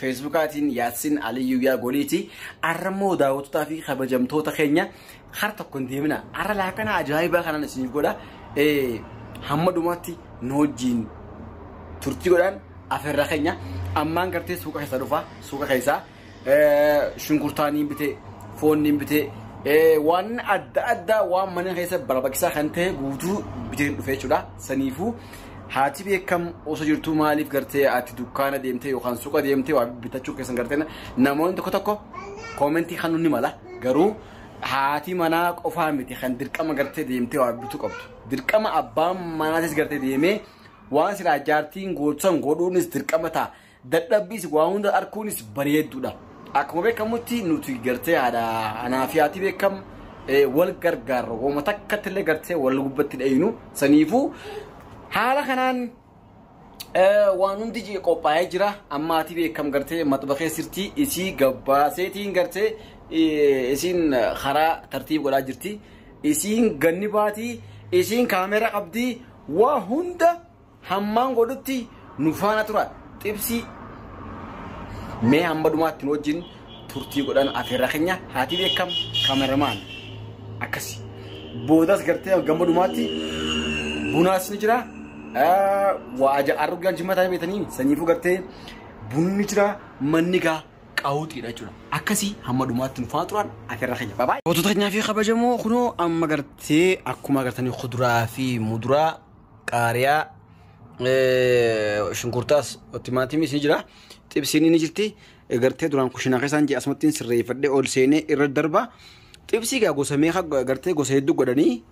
Feesbuukaatiin Yaassin Aliyyuu yaa goliiti. Arra immoo daawwattotaa fi kabajamtoota keenya har tokko hin deemina. Arra laakana ajaa'ibaa kanaan isiniif godha. Eh, Hamma dhumaatti nu wajjin turtii godhaan afeerraa keenya. Ammaan gartee suuqa keessa dhufa. Suuqa keessaa eh, shunkurtaa niin bitee, foon niin bitee, eh, waan adda addaa waan mana keessa barbaachisaa kan ta'e guutuu bitee dhufee jechuudha. Saniifuu Haati beekam osoo jirtuu maaliif gartee ati dukkaana deemtee yookaan suuqa deemtee waa bitachuu keessan gartee namoonni tokko tokko koomentii kan ni mala garuu haati manaa qofaa miti kan dirqama gartee deemtee waa bituu qabdu. Dirqama abbaan manaatis gartee deemee waan silaa jaartiin gootu san godhuunis dirqama ta'a. Dadhabbiis waa hunda arkuunis bareeddudha. Akkuma beekamutti nuti gartee haadha anaa fi haati beekam wal gargaarra. Hooma takkatti illee gartee wal gubbatti dhayinu. Saniifuu haala kanaan waan hundi jee qophaa'ee jira. Amma haati beekam gartee maxbaxee sirtii isii gabbaaseetiin gartee isiin karaa tartiib godhaa jirti. Isiin ganni baatii isiin kaameera qabdii waa hunda Hammaan godhutti nu faana tura xibsii mee hamma dhumaatti nu wajjin turtii godhan afeerraa keenya haatii beekam kameramaan akkasi boodas gartee gamma dhumaatti bunaas ni jira Ah, waa aja argaa jimmataa beetanii sanyiifuu gartee bunni jira manni gaa qaawuxiidha jechuudha akkasii hamma dhumaatti nu faana turan afeerraa keenya baabaa. Gootota keenyaa fi kabajamoo kunoo amma gartee akkuma gartanii kuduraa fi muduraa qaariyaa shunkurtaas timaatimis ni jira xibsiin ni jirti gartee duraan kushinaa keessaan jee asumattiin sirreeffadhee ol seenee irra darba xibsii gaa gosa meeqa gartee gosa hedduu godhanii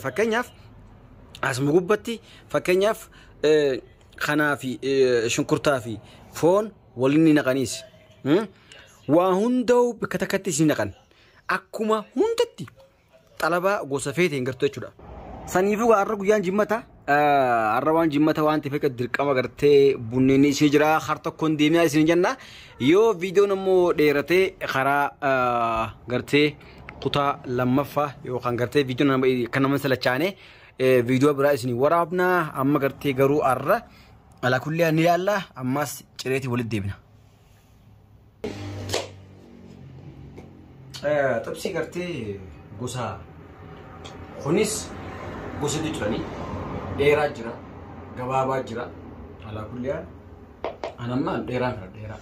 fakkeenyaaf asuma gubbatti fakkeenyaaf kanaa fi shunkurtaa fi foon waliin ni naqaniis waa hundaa'u bakka takkatti isin naqan akkuma hundatti xalabaa gosa feete hin gartu jechuudha. Saniifuu har'a guyyaan jimmata har'a waan jimmata waan ta'eef akka dirqama gartee bunneen ishee jira har tokkoon deemaa isin jenna yoo viidiyoon immoo dheeratee karaa gartee kutaa lammaffaa yookaan gartee viidiyoon kan nama salachaane viidiyoo biraa isin waraabna amma gartee garuu har'a alaa kullee ni ilaalla ammas cireetii walitti deebina. Xibsii gartee gosa kunis gosa hedduu jiranii dheeraa jira gabaabaa jira alaa kulliyaan an amma dheeraa fira dheeraa.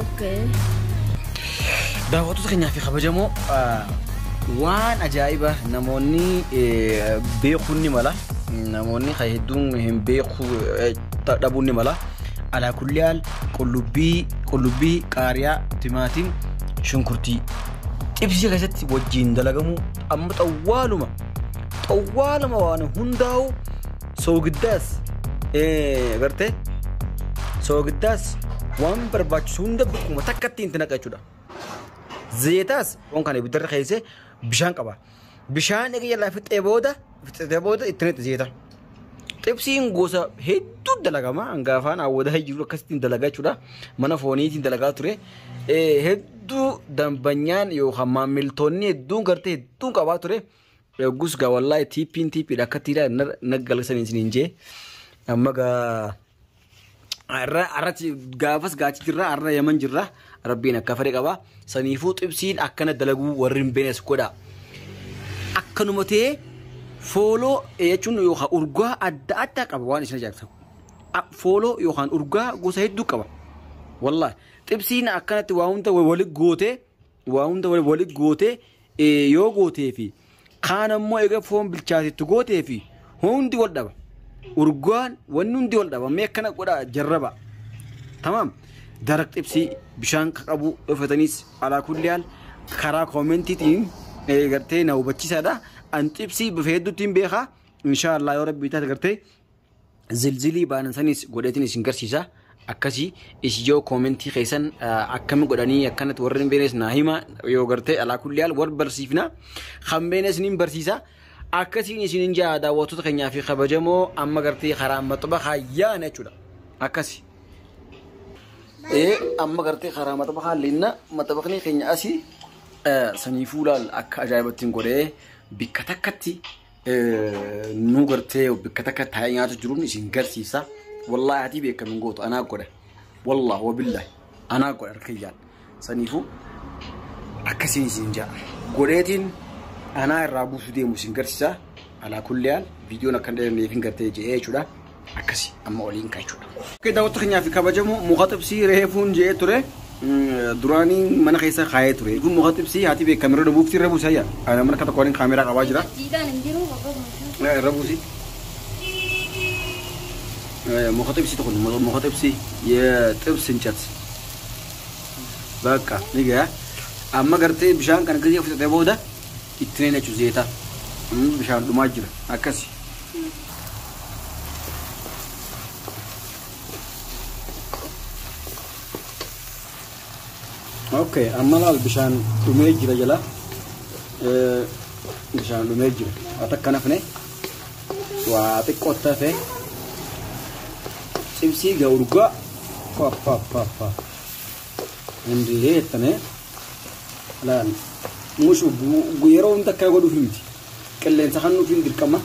Okay. Daawwattoota keenyaa fi kabajamoo ah, waan ajaa'iba namoonni eh, beekuun ni mala namoonni kan hedduun hin beeku eh, ta- dhabuun ni mala alaa kulli haal qullubbii qullubbii qaariyaa timaatiin shunkurtii xibsii keessatti wajjiin dalagamu amma xawwaaluma xawwaaluma waan hundaa'u soogiddaas agartee soogiddaas waan barbaachisu hunda bakkuma takka ittiin itti naqa jechuudha. Zeetaas waan kana ibiddarra keessee bishaan qaba. Bishaan egaa jalaa fixee booda fixee booda itti naqxe zeeta. Xibsiin gosa hedduu dalagama hanga afaan awwadaa jiru akkasittiin dalagaa jechuudha. Mana fooniitiin dalagaa ture. Hedduu dambanyaan yookaan maamiltoonni hedduun gartee hedduun qabaa ture. Yoggus gaa wallaahi tiippiin tiippiidha akka tiiraa na galchanii isiniin jee amma gaa arra arratti gaafas gaachi jirra arra yaman jirra rabbiin akka fedhe qaba saniifuu xibsiin akkana dalaguu warri hin beeknes godha akkanuma ta'ee fooloo jechuun yookaan urgaa adda addaa qaba waan isin ajaa'ibsa fooloo yookaan urgaa gosa hedduu qaba wallaahi xibsiin akkanatti waa hunda wali gootee Waa hunda walitti gootee yoo gootee fi kaan ammoo egaa foon bilchaatetti gootee fi hundi wal dhaba. Urgaan wanni hundi wal dhaba. Mee akkana godhaa jarraba. Tamaam. Daraq xibsii bishaan ka qabu yoo fedhanis alaa kulli haal karaa koomentiitiin eh, gartee na hubachiisaadha. An xibsii bifa hedduutiin beekaa. Inshaallah yoo rabbii taate gartee zilzilii baanan sanis godheetiin isin garsiisa akkasi is yoo koomentii keessan akkami godhanii akkanatti warri hin beenes naa hima yoo gartee alaa kulli haal wal barsiifna kan beenes niin barsiisa akkasiin isin hin jaa daawwattoota keenyaa fi kabajamoo amma gartee karaa maxaba kaayyaana jechuudha akkasi. Ee amma gartee karaa maxaba kaallinna maxabaqni keenya asii sanii fuulaal akka ajaa'ibatti hin godhee bikka takkatti nu gartee bakka takka taa'ee nyaatu jiruun isin garsiisa. Wallaahi hatii beekam hin gootu anaa godha. Wallaahi wabillahi anaa godha harkayyaan. Saniifuu akkasiin isin ja'a. Godheetiin anaa irraa buusu deemu isin garsiisa. Alaa kulli haal viidiyoon akkan dheeranneef hin gartee je'ee jechuudha. akkasi amma oliin ka jechuudha. Oke daawwattoota keenyaa fi kabajamoo muka xibsii reefuun je'ee ture duraanii mana keessa kaayee ture kun muka xibsii haati beekaa mirra dhabuufti irra buusi hayya ana mana akka tokko waliin kaameeraa qabaa jira Jiidhaan hin jiru bakka bulchuu. irra buusi muka xibsii tokko muka xibsii xibsi hin cats bakka ni gaya amma gartee bishaan kan akkasii fudhatee booda Ittine nachu zeeta bishaan dhumaa jira akkasi. Okay amma laal bishaan dhumee jira jala bishaan dhumee jira waa takka nafne waa xiqqoo tafe cimsii ga urgaa papapapa indii jettane laal mushu yeroo hunda akka godhuuf miti qilleensa kan nuuf hin dirqama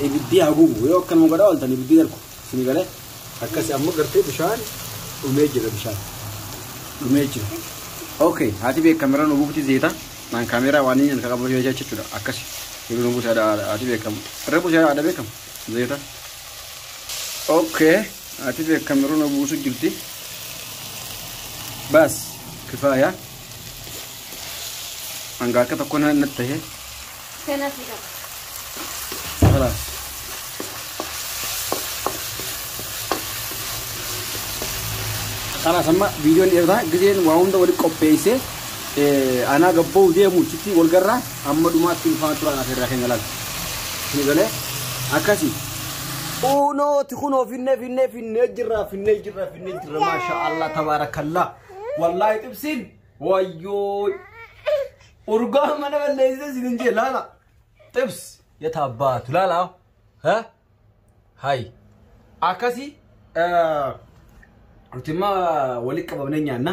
ibiddi haa gubu yoo akka nama godhaa ooltan ibiddi darbu isin galee akkasi amma gartee bishaan dhumee jira bishaan dhumee jira. Okay, haati beek kameraan nu buufti zeeta. Naan kameraa waan inni kan qabu jecha jechuudha. Akkasi. Yeroo nu buusa haati beekamu. Irra buusa haadha beekamu. Zeeta. Okay. Ati be kamerun obusu jirti. Bas kifaya. Hanga akka tokko na na tahe. Kana fida. Hala. Kana sama video ni irra gizeen waa hunda wali qopheesse anaa gabboo deemu chitti wal garraa Amma dhumaatti nu faana turaa afeerraa keenya laata. Isinii galee akkasii. Uunooti kunoo finnee finnee finnee jirra finnee jirra finnee jirra maasha Allah tabaarakallaa. Wallaahi xibsiin wayyoo urgaa mana balleessee isin hin jee laala. Xibs yata abbaatu laala. Ha? Hayi. Akkasii. Nuti immoo walitti qabamnee nyaanna.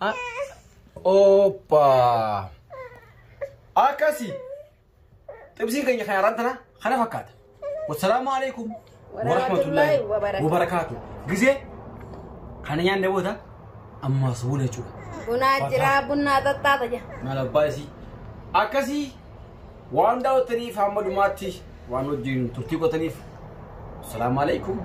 Ah, Oppa. Akkasi. Xibsiin keenya kan yaraan tana kana fakkaata. Wassalaamu alaikum. Warahmatullahi wabarakatuh. Wabarakaatu. Gisee kana nyaanne booda ammaa subuun jechuudha. Bunaa jiraa bunaa xaxxaata jira. Maal abbaa isii. Akkasii Waan daawwattaniif hamma dhumaatti waan wajjin turtii gootaniif salaamu alaikum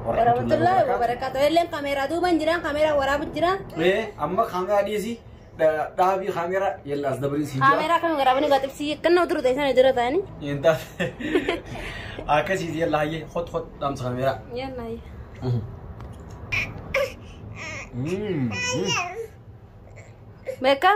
Warahmatullahi wabarakatuh. Illeen kameeraa duuban jiraan kameeraa waraabu jiraan. Ee amma kaameraa dhiisi dha- dhaabii kaameraa yalla as dabariin siin Kameeraa kan waraabanii baxibsii kannoo duru ta'e sana dura ta'anii. Hin taate akkasiis yalla hayyee hot hot dhaamsa kaameraa. Yalla. Mm, mm. Beekaa?